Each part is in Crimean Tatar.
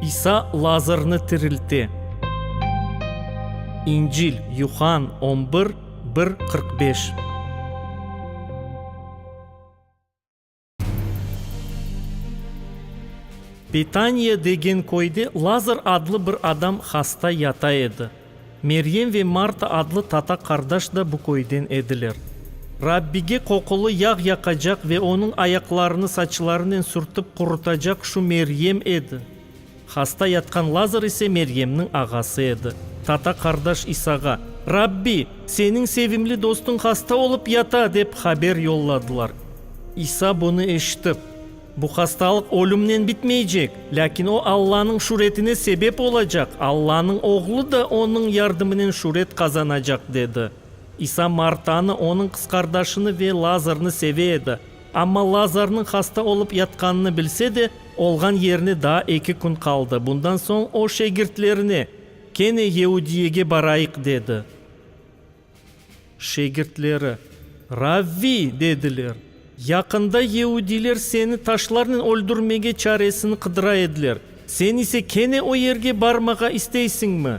İsa Lazarnı tirilte. İncil, Yuhann on bir, bir qırq beş. Betaniya degen köyde Lazar adlı bir adam hasta yata edi. Meryem ve Marta adlı tata qardaş da bu köyden ediler. Rabbige qoqulı yağ yaqacaq ve onıñ ayaqlarını saçlarınen sürtip qurutacaq şu Meryem edi. Hasta yatqan Lazar ise Meryemniñ ağası edi. Tata qardaş İsağa, Rabbi, seniñ sevimli dostuñ hasta olıp yata, dep haber yolladılar. İsa bunı eşitip. Bu hastalıq ölümnen bitmeycek, lâkin o Allanıñ şüretine sebep olacaq, Allanıñ Oğlu da onıñ yardımınen şüret qazanacaq, dedi. İsa Martanı, onıñ qız qardaşını ve Lazarnı seve edi. Amma Lazarnıñ hasta olıp yatqanını bilse de, olğan yerine daa eki kün qaldı. Bundan soñ o şegirtlerine, Kene Yeudiyege barayıq, dedi. Şegirtleri, Ravvi! dediler, yaqında yeudiler seni taşlarnen öldürmege çaresini qıdıra ediler, sen ise kene o yerge barmağa isteysiñmi?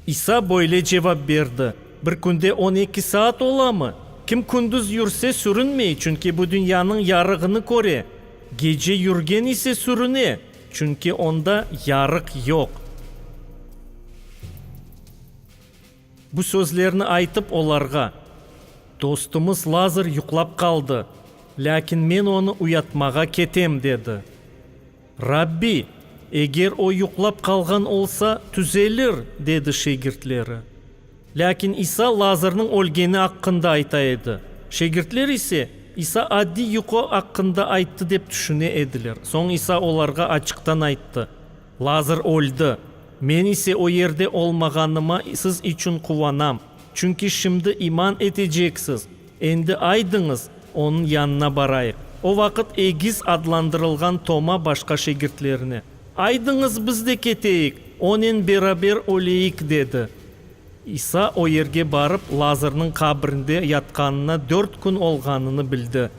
İsa böyle cevap berdi, Bir künde on eki saat olamı? Kim kündüz yürse, sürünmey, çünki bu dünyanıñ yarığını köre. Gece yürgen ise sürüne, çünki onda yarıq yoq. Bu sözlerni aytıp olarğa, Dostumız Lazır yuqlap qaldı, lâkin men onı uyatmağa ketem, dedi. Rabbi, eger o yuqlap qalğan olsa, tüzelir, dedi şegirtleri. Lâkin İsa Lazırnıñ ölgeni aqqında ayta edi. Şegirtler ise, İsa addiy yuqu aqqında ayttı dep tüşüne ediler. Soñ İsa olarğa açıqtan ayttı, Lazır öldi. Men ise o yerde olmağanıma siz içün quvanam, çünki şimdi iman eteceksiz. Endi aydıñız, onıñ yanına barayıq. O vaqıt egiz adlandırılğan Toma başqa şegirtlerine, Aydıñız, biz de keteyik, onen beraber öleyik, dedi. İsa o yerge barıp, Lazarnıñ qabrinde yatqanına dört kün olğanını bildi.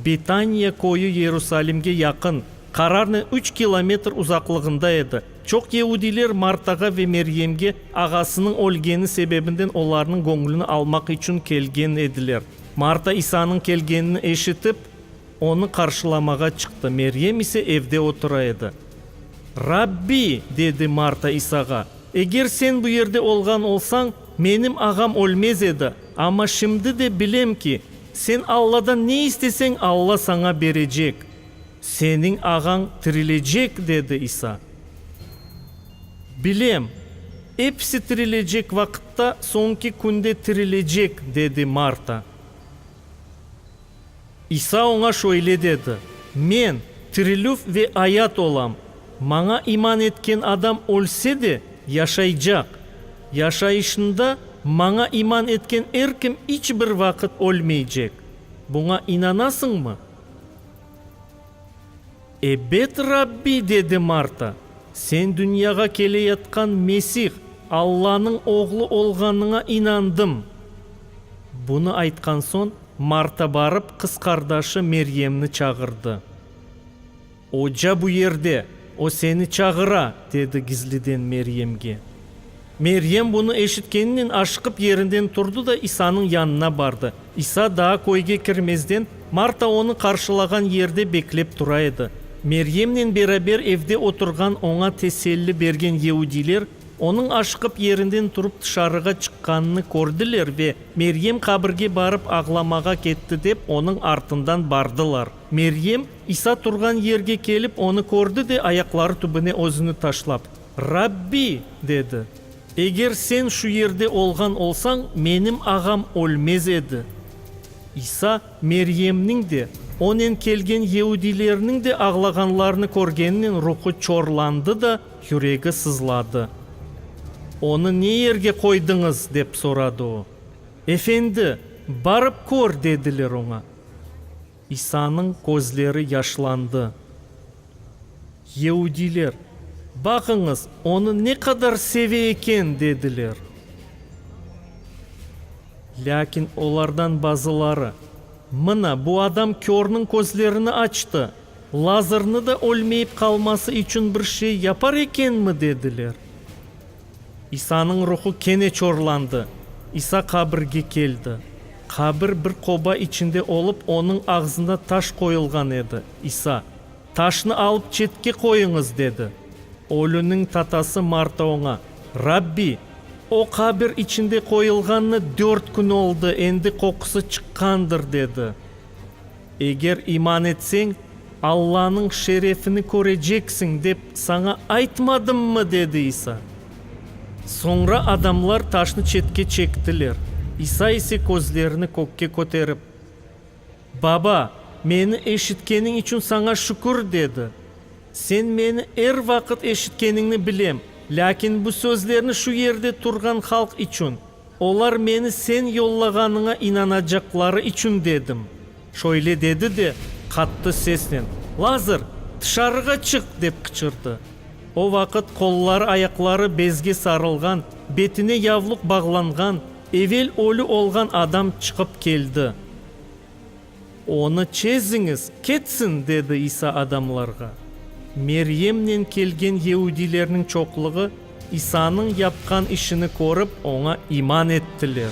Betaniya köyü Yerusalimge yaqın, qararnen üç kilometr uzaqlığında edi. Çoq yehudiyler Martağa ve Meryemge ağasınıñ ölgeni sebebinden olarnıñ göñlüni almaq içün kelgen ediler. Marta İsanıñ kelgenini eşitip, onı qarşılamağa çıqtı, Meryem ise evde otura edi. Rabbi! dedi Marta İsağa. Eger sen bu yerde olğan olsañ, menim ağam ölmez edi. Amma şimdi de bilem ki, sen Alladan ne isteseñ, Alla saña berecek. Seniñ ağañ tirilecek, dedi İsa. Bilem, episi tirilecek vaqıtta, soñki künde tirilecek, dedi Marta. İsa oña şöyle dedi, Men, tirilüv ve ayat olam. Maña iman etken adam ölse de, yaşaycaq. Yaşayışında Maña iman etken er kim iç bir vaqıt ölmeycek. Buña inanasıñmı? Ebet, Rabbi, dedi Marta, sen dünyağa keleyatqan Mesih, Allanıñ Oğlu olğanıña inandım. Bunı aytqan soñ, Marta barıp qız qardaşı Meryemni çağırdı. Oca bu yerde, o seni çağıra, dedi gizliden Meryemge. Meryem bunı eşitkeninen aşıqıp yerinden turdı da İsanıñ yanına bardı. İsa daa köyge kirmezden, Marta onı qarşılağan yerde beklep tura edi. Meryemnen beraber evde oturğan oña teselli bergen yeudiyler, onıñ aşıqıp yerinden turıp tışarığa çıqqanını kördiler ve, Meryem qabirge barıp ağlamağa ketti, dep onıñ artından bardılar. Meryem, İsa turğan yerge kelip, onı kördi de, ayaqları tübüne özüni taşlap. Rabbi, dedi, eger sen şu yerde olğan olsañ, menim ağam ölmez edi. İsa Meryemniñ de, onen kelgen yeudilerniñ de ağlağanlarını körgenen ruhu çorlandı da, yüregi sızladı. Onı ne yerge qoydıñız? dep soradı o. Efendi, barıp kör, dediler oña. İsanıñ közleri yaşlandı. Yeudiler, Baqıñız, onı ne qadar seve eken! dediler. Lâkin olardan bazıları, Mına, bu adam körniñ közlerini açtı, Lazırnı da ölmeyip qalması içün bir şey yapar ekenmi? dediler. İsanıñ ruhu kene çorlandı, İsa qabirge keldi. Qabir bir qoba içinde olıp, onıñ ağzında taş qoyulğan edi. İsa. Taşnı alıp çetke qoyuñız, dedi. Ölüniñ tatası Marta oña, Rabbi, o qabir içinde qoyulğanına dört kün oldı, endi qoqusı çıqqandır, dedi. Eger iman etseñ, Allanıñ şerefini köreceksiñ, dep saña aytmadımmı? dedi İsa. Soñra adamlar taşnı çetke çektiler, İsa ise közlerini kökke köterip. Baba, meni eşitkeniñ içün saña şükür, dedi. Sen meni er vaqıt eşitkeniñni bilem, lâkin bu sözlerni şu yerde turğan halq içün, olar meni sen yollağanıña inanacaqları içün dedim. Şöyle dedi de, qattı sesnen, Lazır, tışarığa çık! dep qıçırdı. O vaqıt qolları-ayaqları bezge sarılğan, betine yavluq bağlanğan, Evel ölü olğan adam çıqıp keldi. Onı çeziñiz, ketsin! dedi İsa adamlarğa. Meryemnen kelgen yeudilerniñ çoqluğı İsanıñ yapqan işini körip, oña iman ettiler.